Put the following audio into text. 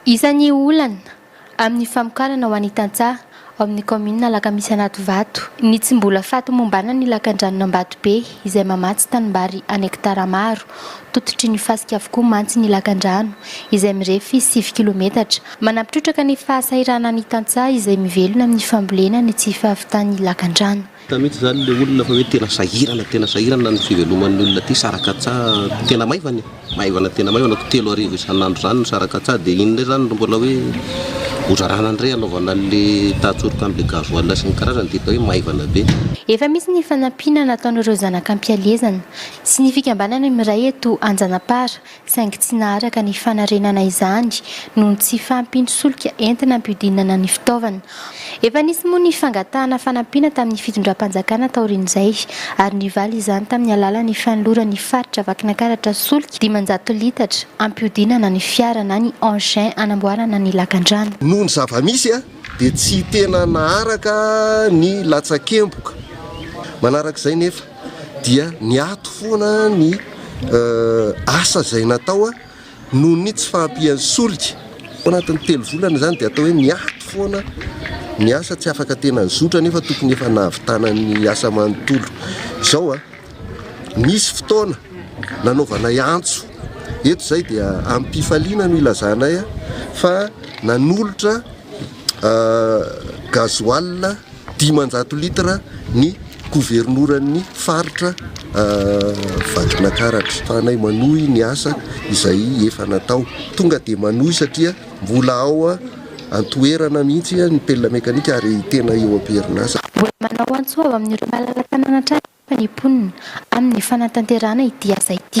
Isan'ny olana amin'ny famokarana ho an'ny tantsaha ao amin'ny kaominina Alakamisy Anatovato ny tsy mbola fahatomombanana ny lakandranon'Ambatobe izay mamatsy tanimbary an hekitara maro. Tototry ny fasika avokoa mantsy ny lakandrano izay mirefy sivy kilometatra. Manampy trotraka ny fahasahiranan'ny tantsaha izay mivelona amin'ny fambolena ny tsy fahavitan'ny lakandrano. Hita mihitsy izany ilay olona fa hoe tena sahirana, tena sahirana ny fiveloman'ny olona aty Sarakatsaha, tena maivana e, maivana tena maivana, ko telo arivo isan'andro izany ny Sarakatsaha dia iny indray izany no mbola hoe hozarana indray hanaovana an'ilay tahan-tsoroka amin'ilay gasoil sy ny karazany dia hita hoe maivana be. Efa misy ny fanampiana nataon'ireo zanak'ampihalezana sy ny fikambanana miray eto Anjanapara saingy tsy naharaka ny fanarenana izany noho ny tsy fahampian'ny solika entina hampihodinana ny fitaovana. Efa nisy moa ny fangatahana fanampiana tamin'ny fitondram-panjakana taorian'izay ary nivaly izany tamin'ny alalan'ny fanoloran'ny faritra Vakinankaratra solika dimanjato litatra hampihodinana ny fiara na ny engin hanamboarana ny lakandrano. Noho ny zava-misy dia tsy tena naharaka ny latsakemboka manarak'izay nefa. dia niato foana ny asa izay natao noho ny tsy fahampian'ny solika. Ao anatin'ny telo volana izany dia atao hoe niato foana ny asa, tsy afaka tena nizotra nefa tokony efa nahavitana ny asa manontolo. Izao, nisy fotoana nanaovanay antso eto izay dia amim-pifaliana no ilazanay fa nanolotra gasoil. Dimanjato litre ny governoran'ny faritra Vakinankaratra. Fanay manohy ny asa izay efa natao. Tonga dia manohy satria mbola ao an-toerana mihitsy ny mplna mekanika ary tena eo am-perinasa. Mbola manao antso avo amin'ireo malala tanàna hatrany anefa ny mponina amin'ny fanatanterahana ity asa ity.